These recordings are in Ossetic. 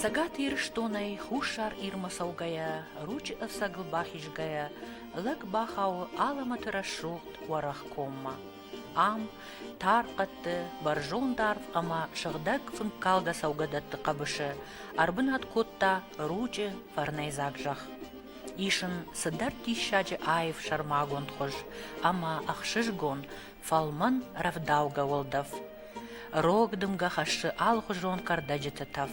Цӕгат Ирыстонӕй Хуссар Ирмӕ цӕугӕйӕ, ручъы ӕцӕгыл бахизгӕйӕ, лӕг бахауы алӕмӕты рӕсугъд уӕрӕх коммӕ. Ам тар хъӕдты, бӕрзонд арв ӕмӕ сыгъдӕг фынккалгӕ цӕугӕдӕтты хъӕбысы ӕрбынат кодта ручъы фӕрнӕйдзаг зӕхх. Ис ын цыдӕр диссаджы аив сӕрмагонд хуыз ӕмӕ ӕхсызгон Фӕлмӕн рӕвдаугӕ уӕлдӕф. Рог дымгӕ хӕссы алыхуызон кӕрдӕджыты тӕф.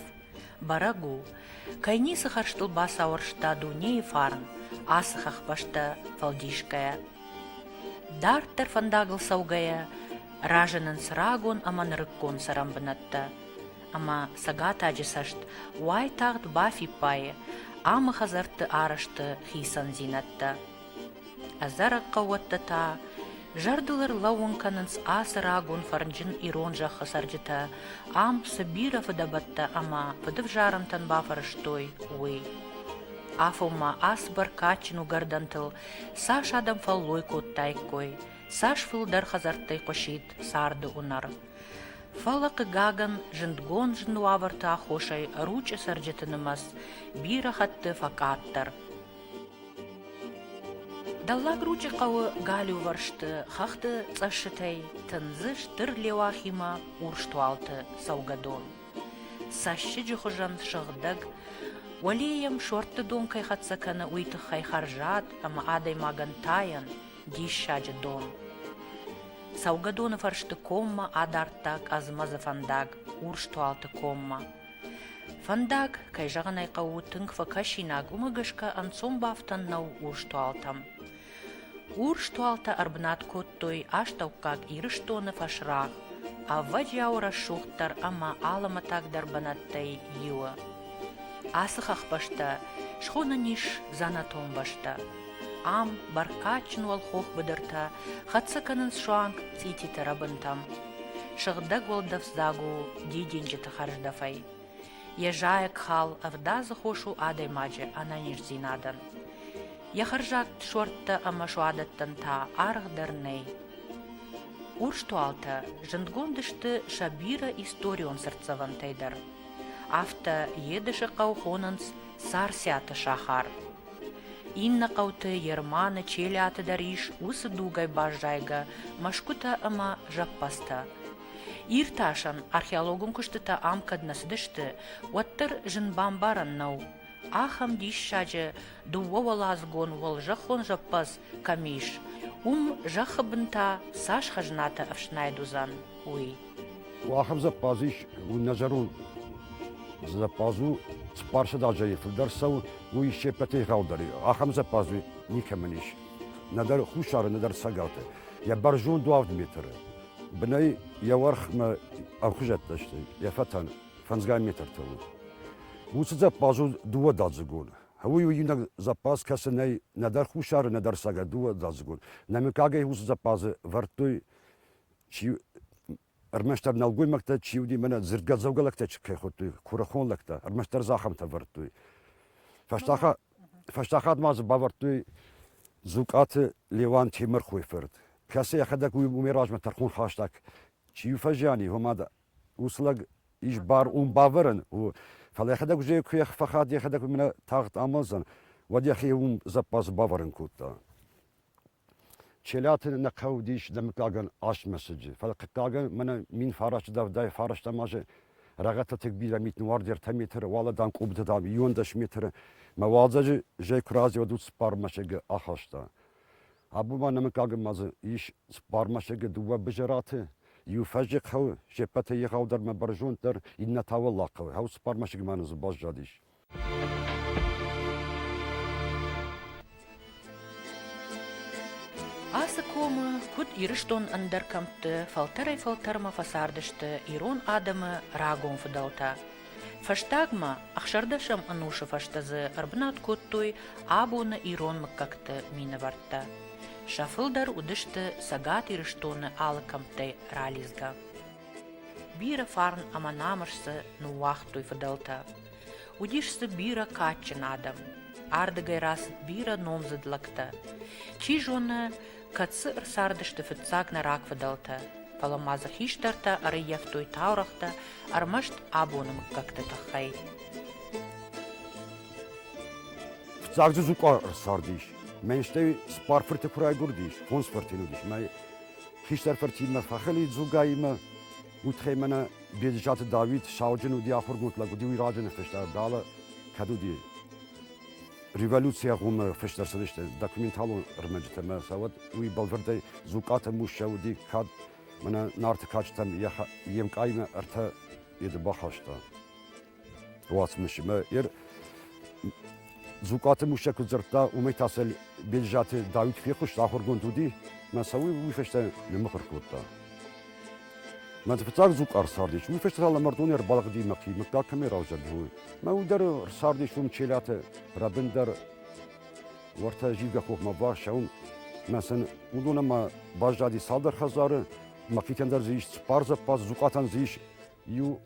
Бӕрӕг у, кӕй ницы хӕрзтыл бацауӕрста дунейы фарн, ацы хӕхбӕстӕ фӕлдисгӕйӕ. Дарддӕр фӕндагыл цӕугӕйӕ разынынц рагон ӕмӕ нырыккон цӕрӕн бынӕттӕ. Ӕмӕ цӕгатаджы цӕст уайтагъд бафиппайы амы хӕдзӕртты арӕзты хицӕндзинӕдтӕ. Ӕдзӕрӕг хъӕууӕттӕ та зӕрдыл ӕрлӕууын кӕнынц ацы рагон фӕрнджын ирон зӕххы цӕрджытӕ ам цы бирӕ фыдӕбӕттӕ ӕмӕ фыдывзарӕнтӕн бафӕрӕзтой, уый. Афонмӕ ас бӕркадджын уыгӕрдӕнтыл цас адӕм фӕллой кодтаиккой, цас фылдӕр хӕдзӕрттӕй хъуысид царды уынӕр. Фӕлӕ, хъыгагӕн, зындгон зын уавӕрты аххосӕй ручъы цӕрджыты нымӕц бирӕ хатты фӕкъаддӕр. Дӕллагручъы хъӕуы галиувӕрсты хӕхты цъӕссытӕй тындзы стыр леуахимӕ урстуалты цӕугӕдон. Цӕссыджы хуызӕн сыгъдӕг, уӕле йӕм сортты дон кӕй хӕццӕ кӕны, уый тыххӕй хӕрзад ӕмӕ адӕймагӕн тайӕн диссаджы дон. Цӕугӕдоны фӕрсты коммӕ адардта къӕдз-мӕдзы фӕндаг Урстуалты коммӕ. Фӕндаг, кӕй зӕгъын ӕй хъӕуы, тынг фӕкӕсинаг, уымӕ гӕсгӕ ӕнцон бафтӕн нӕу урстуалтӕм. Урстуалтӕ ӕрбынат кодтой Астӕуккаг Ирыстоны фӕсрагъ, ӕвӕджиауы рӕсугъддӕр ӕмӕ алымӕтӕгдӕр бынӕттӕй иуы. Ацы хӕхбӕстӕ схонӕн ис дзӕнӕтон бӕстӕ. Ам бӕркадджын уӕлхох быдыртӕ хӕццӕ кӕнынц суанг цъититы рӕбынтӕм. Сыгъдӕг уӕлдӕфдзаг у дидинджыты хӕрздӕфӕй. Йӕ зайӕг хал ӕвдадзы хос у адӕймаджы ӕнӕниздзинадӕн. Йӕ хӕрзад суӕрттӕ ӕмӕ суадӕттӕн та аргъ дӕр нӕй. Урстуалтӕ зындгонд сты сӕ бирӕ историон цыртдзӕвӕнтӕй дӕр. Афтӕ Едысы хъӕу хонынц Царциаты сахар. Иннӕ хъӕуты Ерманы, Челиаты дӕр ис уыцы дугӕй баззайгӕ мӕсгуытӕ ӕмӕ зӕппӕдзтӕ. Иртасӕн археологон куыстытӕ ам кӕд нӕ цыдысты, уӕддӕр зын бамбарӕн нӕу, ахӕм диссаджы дыууӕуӕладзыгон уӕлзӕххон зӕппӕдз кӕм ис, уым зӕххы бын та цас хӕзнатӕ ӕфснайд уыдзӕн. Уахӕм зӕппадз ис нӕ зӕронд. Зӕппадз у цыппарсӕд азӕй фылдӕр цӕуы, уый се ппӕтӕй гъаудӕр и. Ахӕм зӕппадз никӕмӕн ис. Нӕдӕр хуссары, нӕдӕр цӕгаты. Йӕ бӕрзонд уӕвд метры бынӕй йӕ уӕрхмӕ ӕмхуызӕттӕ сты, йӕ фӕтӕн фӕндзгай метртӕ у. Уыцы зӕппадз у дыууӕдӕдзыгон. Уый у иунӕг зӕппадз, кӕцы нӕй нӕдӕр хуссары, нӕдӕр цӕгат дыууӕдӕдзыгон. Нӕ мыггагӕй уыцы зӕппадзы вӕрдтой чи ӕрмӕстдӕр нӕлгоймӕгтӕ чи уыди, мӕнӕ дзырдгӕдзӕугӕ лӕгтӕ чи кӕй хуыдтой, куырыхон лӕгтӕ, ӕрмӕстдӕр дзы ахӕмтӕ ӕвӕрдтой. Фӕстаг, фӕстаг ма дзы бавӕрдтой Дзукъаты Леуан Темырхойы фырт, кӕцы йӕхӕдӕг уымӕй размӕ тӕрхон хаста, чи фӕзиани, уымӕ мад уыцы лӕг ис бар уым бавӕрын, фӕлӕ йӕхӕдӕг уызӕй куы фӕхӕд, йӕхӕдӕг уымӕ тагъд амондзӕн, уӕд йӕхи уым зӕппадзы бавӕрын кодта. Челиаты нӕ хъӕу уыдис дӕ мыггагӕн астмӕсыджы, фӕлӕ хъыгагӕн мӕнӕ мин фараст дӕвдӕй фарӕстӕм азы Рӕгъӕдтӕ бирӕ митны уард ӕртӕ метры, уӕлӕдан къуыбыты, дам, иуӕн дӕс метры мӕ уалдзӕджы зӕй куы разыйод уыд цыппар мӕсыгы ахаста. Абон ма нӕ мыггагӕн ма дзы ис цыппар мӕсыгы дыууӕ Бызӕраты, иу фӕззыг хъӕуы, се ппӕтӕй егъаудӕр мӕ бӕрзонддӕр, иннӕ та уӕллаг хъӕуы, ау цыппар мӕсыгмӕ нӕ дзы баззадис. Ацы комы куыд Ирыстон ӕндӕр кӕмтты фӕлтӕрӕй-фӕлтӕрмӕ фӕцардысты ирон адӕмы рагон фыдӕлтӕ. Фӕстагмӕ ӕхсӕрдӕсӕм ӕнусы фӕстӕ дзы ӕрбынат кодтой абоны ирон мыггӕгты минӕвӕрттӕ. Сӕ фылдӕр уыдысты Цӕгат Ирыстоны алы кӕмттӕй ралидзгӕ. Бирӕ фарн ӕмӕ намыс дзы ныууагътой фыдӕлтӕ. Уыдис дзы бирӕ кадджын адӕм. Ардыгӕй рацыд бирӕ номдзыд лӕгтӕ. Чи зоны, кӕд дзы ӕрцардысты фыццаг нӕ рагфыдӕлтӕ, фӕлӕ ма дзы хистӕртӕ ӕрӕййӕфтой таурӕгътӕ ӕрмӕст абоны мыггӕгты тыххӕй. Фыццаг дзы Дзукъа ӕрцардис. Мӕн стӕй цыппар фырты куы райгуырдис, фондз фырт йын уыдис. Мӕ хистӕр фыртимӕ фӕхӕлид Дзугаимӕ. Уитхӕй мӕнӕ Беджызаты Давид сауджын уыди, ахуыргонд лӕг уыди, уый раджы нӕ фыста, бӕлы кӕд уыди революцийӕ гъоммӕ фыст ӕрцыдысты документалон ӕрмӕджытӕ мӕ сӕ уӕд уый бӕлвырдӕй Дзукъаты Муссӕ уыди, кӕд мӕнӕ нарты кадджытӕм йе мкъаймӕ ӕртӕ еды бахаста. уацмысмӕ. Ер Зукъаты Муссӕ куыд дзырдта, уымӕй та сӕ Бельзаты Давид фехъуыст, ахуыргонд уыди, мӕ цӕуы уый фӕстӕ нымыхуыр кодта. Мӕ фыццаг зукъар цардис, уый фӕстӕ та лӕмӕрдон ӕрбалыгъди мӕхи, мыггаг кӕмӕй равзӕрд, уый. Мӕ уд дӕр цардис уым Челӕты, рӕбын дӕр уӕртӕ зилгӕ хохмӕ бахсӕуын, мӕ сын уыдон ӕмӕ баззади цалдӕр хӕдзары, мӕхицӕн дӕр дзы ис цыппар зӕппадз, Зукъатӕн дзы ис иу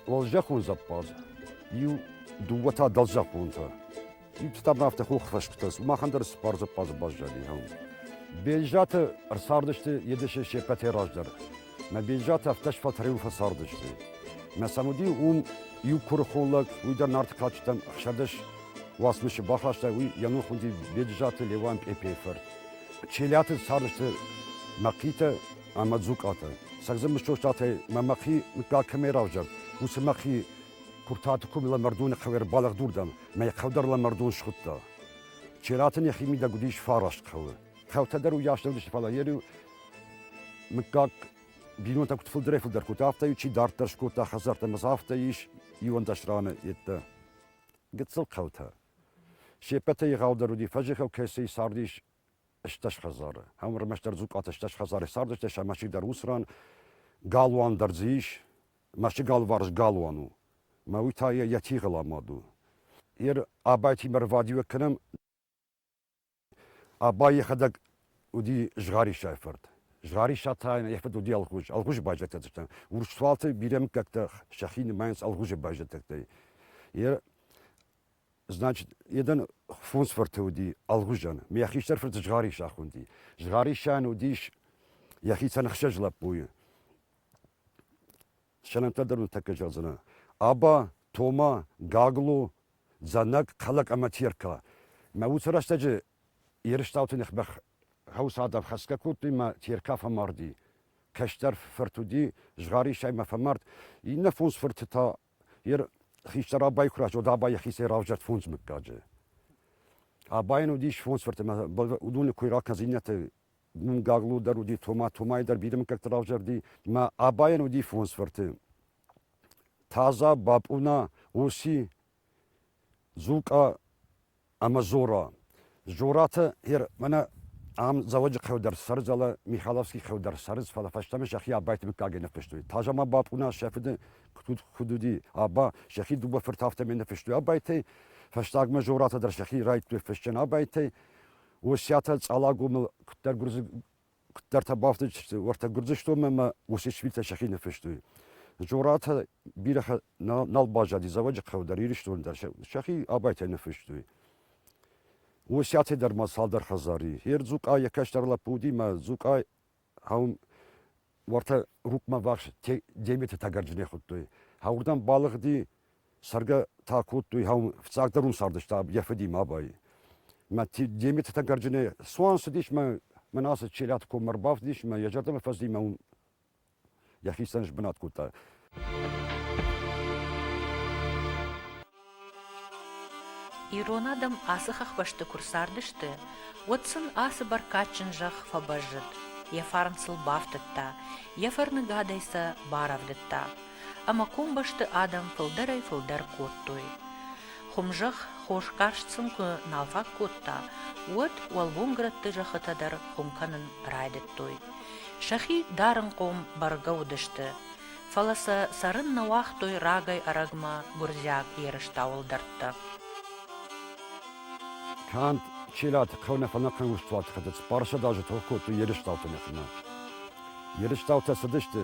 уӕлзӕххон зӕппадз, иу дыууӕ та дӕлзӕххонтӕ. Ипстар ма афтӕ хох фӕсгуытӕ, махӕн дӕр цыппар зӕппадзы баззади. Бельзӕты ӕрцардысты Едысы се ппӕтӕй раздӕр. Мӕ Бельзӕты ӕртӕ сфӕлтӕрыл фӕцардысты. Мӕ сӕм уыди уым иу куырыхон лӕг, уый дӕр нарты кадджытӕм ӕхсӕдӕс уацмысы бахаста, уый йӕ ном хуынди Беджызаты Леуан Пъепейы фырт. Челиаты цардысты Мӕхъитӕ ӕмӕ дзукъаты. Сӕгдзы мыстостатӕй мӕ мӕхи мыггаг кӕмӕй равзӕрд, уыцы мӕхи Куртаты кумила мӕрдоны хъӕуӕр балӕгдурдӕн мӕ хъӕвдарлӕ мӕрдон схуыдта. Чератӕн йӕхи мидӕг уыдис фараст хъӕуы. Хъӕутӕ дӕр уыйас нӕ уыдысты, фӕлӕ йӕ мыггаг бинонтӕ куыд фылдӕрӕй-фылдӕр кодта, афтӕ-иу чи дарддӕр скодта хӕдзӕрттӕ, ӕмӕ дзы афтӕ ис иуӕндӕс раны йеддӕ. Гыццыл хъӕутӕ. Се ппӕтӕй егъаудӕр уыди, фӕзыхыл кӕцыйы цардис стӕс хӕдзары. Ам ӕрмӕстдӕр дзукъаты стӕс хӕдзары цардысты, сӕ мӕсыг дӕр уыцы ран галуан дӕр дзы ис. Мӕсыг алыварс галуан у. Мӕ уый та йӕ йӕ тигъыл амад у. Йер абайтимӕ рвадиуӕг кӕнӕм. Абай йӕхӕдӕг уыди згъӕрисӕй фырт. Згъӕриса та йӕ фыд уыди Алгъуз. Алгъуз байзӕдтӕ. Урс цуалты бирӕ мыггӕгтӕ сӕхи нымайынц Алгъузы байзӕдтӕй. Йер Значит, jeden фондзфырты уыди Алгъуызӕн, ме хистӕр фырты згъӕрисах уыди. Згъӕрисӕн уыдис йӕхицӕн ӕхсӕз лӕппуйы. Сӕнӕнтӕ дӕр ныртӕккӕ зӕгъдзынӕ. Аба, Тома, Гагло, Дзанӕг, Калак ӕмӕ Терка. Мӕ уыцы рӕстӕджы Ерыстауты ныхбӕх хъӕусадав хӕцгӕ кодтой мӕ Терка фӕмарди. Кӕстӕр фырт уыди, згъӕрисӕй мӕ фӕмард. Иннӕ фондз фырты та Ер хистӕр абайы куы рацыд, уӕд аба йӕхицӕй равзӕрд фондз мыггаджы. Абайӕн уыдис фондз фырт, ӕмӕ уыдоны кой ракӕнынц, иннӕты уым Гаглу дӕр уыди, Тома, Томайы дӕр бирӕ мыггӕгты равзӕрди, ӕмӕ абайӕн уыди фондз фырты. Таза, Бапъуна, Оси, Дзукъа ӕмӕ Зора. Зораты Ир, мӕнӕ ам Дзӕуӕджыхъӕуы дӕр цӕрзӕлы, Михайловский хъӕу дӕр цӕрынц, фӕлӕ фӕстӕмӕ сӕхи абайты мыггагӕй ныффыстой. Таза-ма бапъуна сӕ фыды куыд уыди, аба, сӕхи дыууӕ фырты афтӕмӕй ныффыстой абайтӕй, фӕстагмӕ Зоратӕ дӕр сӕхи райдтой фыссӕн абайтӕй, Осиатӕ Цъалагомыл куыддӕр гуырдзы Куыддӕртӕ бафтыдысты уӕртӕ Гуырдзыстонмӕ ӕмӕ Осетшвилтӕ сӕхи ныффыстой. Зоратӕ бирӕ нал баззади Дзӕуӕджыхъӕуы дӕр, Ирыстоны дӕр сӕхи абайтӕй ныффыстой. Осетӕ дӕр ма цалдӕр хӕдзари. Ер Дзукъа йӕ кӕстӕр лӕппу уыди мӕ Дзукъа ам уӕртӕ Рукъмӕ ӕввахс Деметы тӕгӕрджынӕй хуыдтой. Уырдӕм балыгъди Цӕргӕ та кодтой, фыццагдӕр уын цардыстӕм йӕ фыди мабӕй. Мӕ Деметы Тӕгӕрджыны цуан цыдис мӕ мӕн ацы Челӕты коммӕ ӕрбафтыдис мӕ йӕ зӕрдӕмӕ фӕци мӕ уым йӕхицӕн сбынат кодта. Ирон адӕм ацы хӕхбӕсты куы рцардысты, уӕд сын ацы бӕркадджын зӕхх фӕбӕззыд, йӕ фарн сыл бафтыдта, йӕ фӕрныгадӕй сӕ барӕвдыдта. ӕмӕ комбӕсты адӕм фылдӕрӕй-фылдӕр кодтой. Хуымзӕхх хосгӕрст сын куы нал фаг кодта, уӕд уӕлгомгрӕтты зӕххытӕ дӕр хуым кӕнын райдыдтой. Сӕхи дарынхъом бӕргӕ уыдысты, фӕлӕ сӕ цӕрын нӕ уагътой рагӕй-ӕрӕгмӕ гуырдзиаг ерыстау ӕлдӕрттӕ. Канд Челӕты хъӕу нӕ фӕнӕхъӕн урсдуаты хӕтыц Парсад азы тох кодтой ерыстаутӕн йӕхимӕ. Ерыстаутӕ цыдысты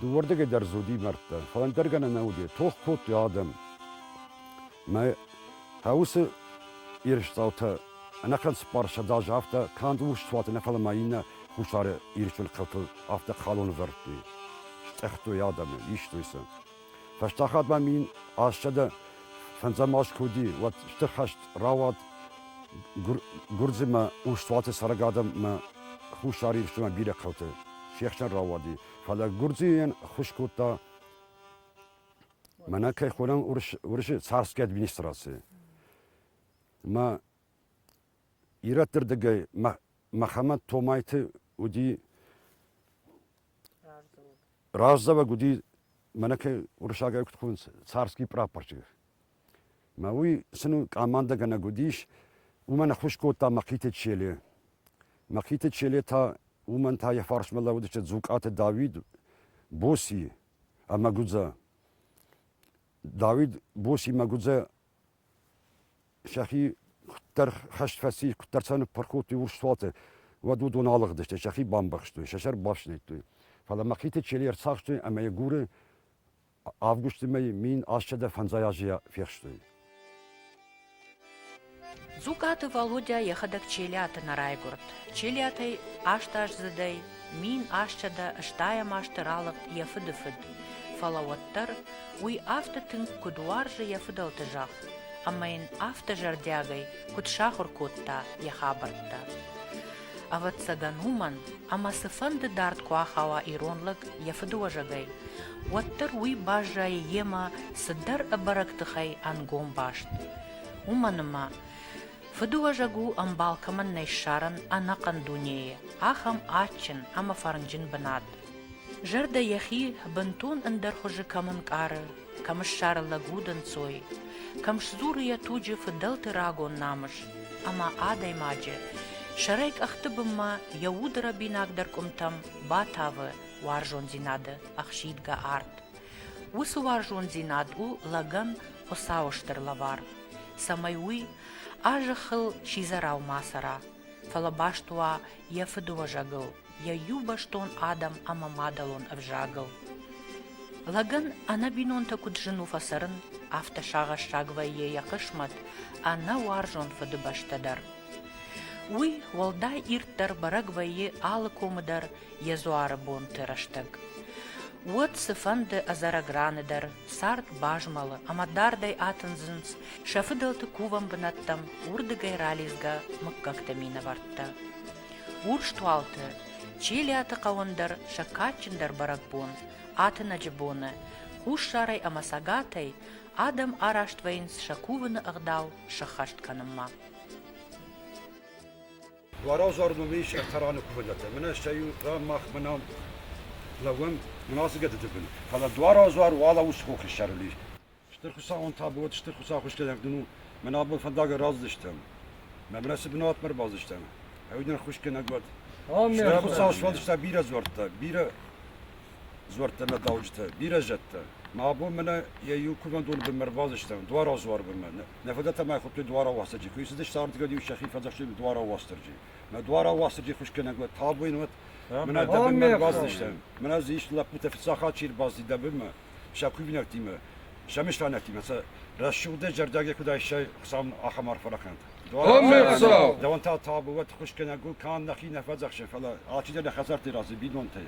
Дыууӕрдыгӕй дӕр дзы уыди мӕрдтӕ, фӕлӕ ӕндӕр гӕнӕн нӕ уыди, тох кодтой адӕм. Мӕ та уыцы ерысцъаутӕ ӕнӕхъӕн цыппар сӕдз азы афтӕ канд урсцуаты нӕ, фӕлӕ ма иннӕ хуссары Ирыстоны хъӕуты афтӕ халон ӕвӕрдтой, стъӕхтой адӕмы, истой сӕ. Фӕстаг хатт ба мин асчъадӕ фӕндзӕмаст ку уди, уӕд стыр хӕст рауад Гурдзимӕ Устуати цӕрӕг адӕммӕ Хуссар Ирыстонмӕ бирӕ хъӕуты се хсӕн рауади. Фӕлӕ Гурдзийӕн хус кодта мӕнӕ кӕй хонӕм уырысы царская администраци. Мӕ Ирӕтты рдыгӕй Мӕхӕмӕт-Томайты уыди раздзӕуӕг уыди, мӕнӕ кӕй уырыссагӕй куыд хъуынынц, царский прапорщик. Мӕ уый сын у къамандӕгӕнӕг уыдис, уымӕн ӕххуыс кодта Мӕхъиты Челе. Мӕхъиты Челе та уымӕн та йӕ фарсмӕ лӕууыдысты Дзукъаты Дауид, Боси ӕмӕ Гудза. Дауид Боси ӕмӕ Гудза сӕхи куыддӕр хӕст фӕци, куыддӕр сӕ ныппырх кодтой урс суаты, уӕд уыдон алыгъдысты, сӕхи бамбӕхстой, сӕ сӕр бафснайдтой. Фӕлӕ мӕхъиты челийӕ ӕрцахстой ӕмӕ йӕ гуры августы мӕйы мин ассӕдӕ фӕндзай азӕй фехстой. Дзукъаты Валодя йӕхӕдӕг Челиаты нӕ райгуырд. Челиатӕй астаздзыдӕй Мин астсӕдӕ стайӕм азты ралыгъд йӕ фыды фыд, фӕлӕ уӕддӕр уый афтӕ тынг куыд уарзы йӕ фыдӕлты зӕхх ӕмӕ йын афтӕ зӕрдиагӕй куыд сахуыр кодта йӕ хабӕрттӕ. Ӕвӕццӕгӕн уымӕн, ӕмӕ цыфӕнды дард куы ахауа ирон лӕг йӕ фыдыуӕзӕгӕй, уӕддӕр уый баззайы йемӕ цыдӕр ӕбӕрӕг тыхӕй ӕнгом баст. Уымӕн ӕмӕ Фыдыуӕзӕг у, ӕмбал кӕмӕн нӕй ссарӕн ӕнӕхъӕн дунейы, ахӕм адджын ӕмӕ фӕрнджын бынат. Зӕрдӕ йӕхи бынтон ӕндӕр хуызы кӕм ӕнкъары, кӕм ссары лӕг удӕнцой, кӕм сдзуры йӕ туджы фыдӕлты рагон намыс, ӕмӕ адӕймаджы сӕрӕй къӕхты бынмӕ йӕ уды рӕбинагдӕр къуымтӕм батавы уарзондзинады ӕхсидгӕ арт. Уыцы уарзондзинад у лӕгӕн Хуыцауы стыр лӕвар, цӕмӕй уый а зӕххыл сидзӕрау ма цӕра, фӕлӕ баст уа йӕ фыдыуӕзӕгыл, йӕ иубӕстон адӕм ӕмӕ мадӕлон ӕвзагыл. Лӕгӕн ӕнӕ бинонтӕ куыд зын у фӕцӕрын, афтӕ сагъӕссаг вӕййы йӕ хъысмӕт ӕнӕ уарзон фыдыбӕстӕ дӕр. Уый уӕлдай ирддӕр бӕрӕг вӕййы алы комы дӕр йӕ дзуары бонты рӕстӕг. Уӕд цыфӕнды ӕдзӕрӕг раны дӕр цард базмӕлы ӕмӕ дардӕй атындзынц сӕ фыдӕлты кувӕн бынӕттӕм уырдыгӕй ралидзгӕ мыггӕгты минӕвӕрттӕ. Урстуалты, Чилиаты хъӕуӕн дӕр сӕ кадджындӕр бӕрӕгбон, атынӕджы боны, хуссарӕй ӕмӕ цӕгатӕй адӕм араст вӕййынц сӕ кувыны ӕгъдау сӕххӕст кӕнынмӕ. Уӕразӕр мӕм ис ӕртӕрӕны куывдӕтӕ. Мӕнӕ стӕй иу мах мӕнӕ лӕууӕм мынацыгӕдыты бын. Фӕлӕ дуаразӕр уӕлӕ ус хохы сӕрыл ис. Стыр хуыцауӕн табуат, стыр хуыцаухуызгӕнӕг дын у. Мӕн абон фӕндагӕй раздзыстӕм. Мӕнмӕ цы бынатмӕ ӕрбаздзыстӕм? Ӕви ныр хуызгӕнӕг уӕд? Стӕй хуыцау сфӕлдыста бирӕ дзуӕрттӕ, бирӕ дзуӕрттӕ нӕ дауджытӕ, бирӕ зӕдтӕ. Мӕ абон мӕнӕ йӕ иу кувӕндоны бынмӕ ӕрбаздзыстӕм, дуаразӕр бынмӕ. Нӕ фадатӕмӕ хуыдтой дуарауасӕджы. Куы цыдис цардгӕд-иу сӕхи фӕдзӕхстой дуарауасдӕрджи. Мӕ дуарауасдӕрджи хуысгӕнӕг уӕд табуин уӕд, мӕнӕ дӕбынмӕ баздзыстӕм. Мӕнӕ дзы ис лӕппутӕ фыццаг хатт чи рбазди дӕбынмӕ, сӕ кувинӕгтимӕ, сӕ мыстайнӕгтимӕ, сӕ рӕсугъдӕй зӕрдиагӕй куыд айсай, Хуыцау ахӕм арф фӕрахӕнт. Ӕмӕ Хуыцау! Дӕуӕн та табу уӕд, хуысгӕнӕг уыл канд нӕхи нӕ фӕдзӕхсӕм, фӕлӕ алчидӕр нӕ хӕдзӕртты разы, бинонтӕй.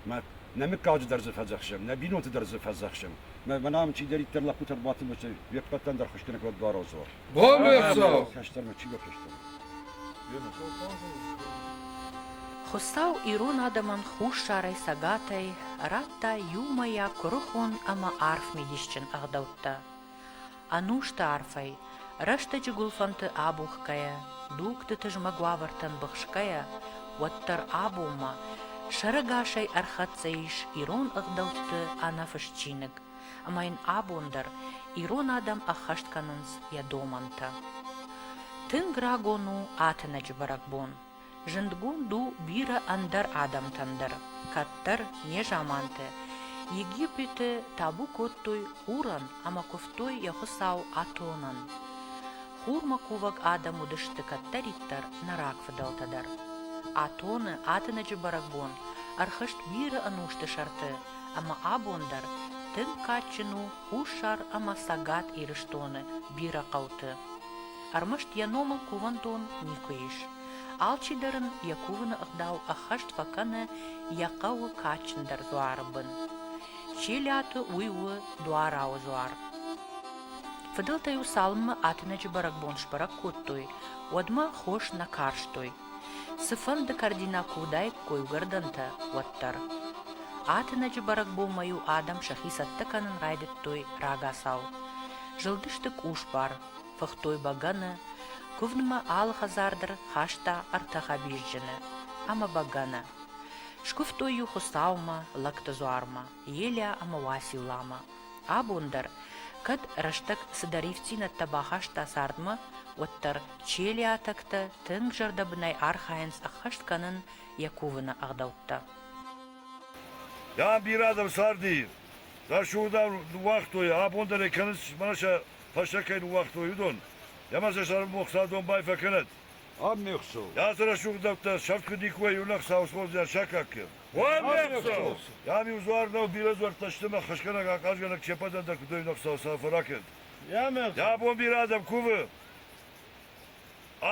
Мад, нӕ мыггаджы дӕр дзы фӕдзӕхсӕм, нӕ бинонты дӕр дзы фӕдзӕхсӕм. Мӕнӕм чидӕриддӕр лӕппутӕ ӕрбадтысты, уе ппӕтӕн дӕр хуызгӕнӕг уӕд дуароздзор. Бон ме хсӕв! Хӕстӕгмӕ чи бафӕстӕ? Хуыцау ирон адӕмӕн хуссарӕй цӕгатӕй радта иумӕйаг куырыхон ӕмӕ арф мидисджын ӕгъдӕуттӕ. Ӕнусты арфӕй, рӕстӕджы гуылфӕнты абухгӕйӕ, дугты тызмӕг уавӕртӕм быхсгӕйӕ, уӕддӕр абонмӕ сӕрӕгасӕй ӕрхӕццӕ ис ирон ӕгъдӕутты ӕнӕфыст чиныг, ӕмӕ йын абон дӕр ирон адӕм ӕххӕст кӕнынц йӕ домӕнтӕ. Тынг рагон у атынӕджы бӕрӕгбон. Зындгонд у бирӕ ӕндӕр адӕмтӕн дӕр, кӕддӕр, незаманты, Египеты табу кодтой хурӕн ӕмӕ куывтой йӕ хуыцау Атонӕн. Хурмӕ кувӕг адӕм уыдысты кӕддӕриддӕр нӕ рагфыдӕлтӕ дӕр. Атоны атынӕджы бӕрӕгбон ӕрхызт бирӕ ӕнусты сӕрты, ӕмӕ абон дӕр тынг кадджын у Хуссар ӕмӕ Цӕгат Ирыстоны бирӕ хъӕуты. ӕрмӕст йӕ номыл кувӕндон никуы ис. Алчидӕр ын йӕ кувыны ӕгъдау ӕххӕст фӕкӕны йӕ хъӕуы кадджындӕр дзуары бын. Челиаты уый у дуарауы дзуар. Фыдӕлтӕ-иу цалынмӕ Атынӕджы бӕрӕгбон сбӕрӕг кодтой, уӕдмӕ хос нӕ карстой. Цыфӕнды кӕрдинаг куы уыдаиккой уыгӕрдӕнтӕ, уӕддӕр. Атынӕджы бӕрӕгбонмӕ-иу адӕм сӕхи цӕттӕ кӕнын райдыдтой рагацау. Зылдысты къусбар, фыхтой бӕгӕны, куывдмӕ алы хӕдзар дӕр хаста ӕртӕ хӕбизджыны ӕмӕ бӕгӕны. Скуывтой-иу Хуыцаумӕ, лӕгты дзуармӕ, Елиа ӕмӕ Уацилламӕ. Абон дӕр, кӕд рӕстӕг цыдӕр ивддзинӕдтӕ бахаста цардмӕ, уӕддӕр челиатӕгтӕ тынг зӕрдӕбынӕй архайынц ӕххӕст кӕнын йӕ кувыны ӕгъдӕуттӕ. Дам, бирӕ адӕм царди, рӕсугъдӕр уагътой, абон дӕр ӕй кӕнынц, мӕнӕ сӕ фӕсте кӕй ныууагътой, уыдон, ӕмӕ сӕ сӕрмбохса домбай фӕкӕнӕд. Ам не хсӕв. Йацы рӕсугъдӕуттӕ сӕфт куы никуы иу лӕг саусхордзӕн сакаккы. Уӕм не хсӕв! Йӕм-иу дзуар нӕу бирӕ дзуӕрттӕ сты мӕ хӕсгӕнӕг ахъазгӕнӕг чепадӕндӕг куыд ӕй ныхса сӕ фӕракӕнт. Йӕ бон бирӕ адӕм кувы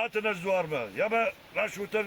ӕтынӕз дзуармӕ, ӕмӕ рӕсутӕн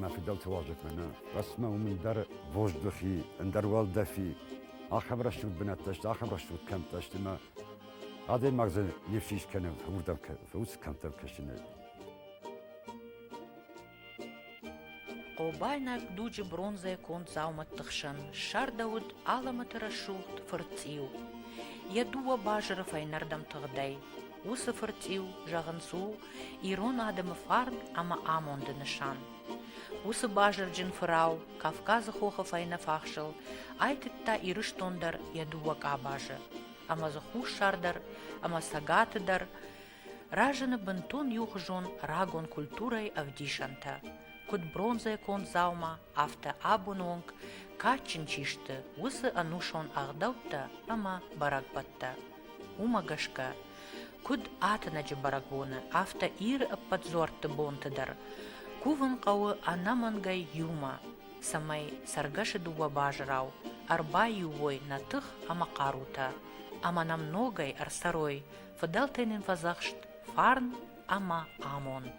Мӕ фыдӕлты уалдзӕгмӕ нӕ, Расмӕ уым ӕндӕр воздухи, ӕндӕр уӕлдӕфи, ахӕм рӕсугъд бынӕттӕ сты, ахӕм рӕсугъд кӕмттӕ сты, ӕмӕ адӕймаг дзы не фсис кӕны, уырдӕм уыцы кӕмттӕм кӕсынӕй. Хъобайнаг дуджы бронзӕйы конд дзаумӕтты хсӕн ссардӕуыд алӕмӕты рӕсугъд фырцъиу. Йӕ дыууӕ базыры фӕйнӕрдӕм тыгъдӕй. Уыцы фырцъиу, зӕгъынц, у ирон адӕмы фарн ӕмӕ амонды нысан. Уыцы базырджын фырау Кавказы хохы фӕйнӕфахсыл айтыдта Ирыстон дӕр йӕ дыууӕ къабазы, ӕмӕ дзы Хуссар дӕр ӕмӕ Цӕгаты дӕр разыны бынтон иухуызон рагон культурӕйы ӕвдисӕнтӕ, куыд бронзӕйы конд дзаума, афтӕ абоны онг кадджын чи сты, уыцы ӕнусон ӕгъдӕуттӕ ӕмӕ бӕрӕгбӕттӕ. Уымӕ гӕсгӕ, куыд ӕтӕнӕджы бӕрӕгбоны, афтӕ Иры ӕппӕт дзуӕртты бонты дӕр кувын хъӕуы ӕнӕмӕнгӕй иумӕ, цӕмӕй цӕргӕсы дыууӕ базырау ӕрбаиу уой нӕ тых ӕмӕ хъарутӕ ӕмӕ нӕм ногӕй ӕрцӕрой фыдӕлтӕй нын фӕдзӕхст фарн ӕмӕ амонд.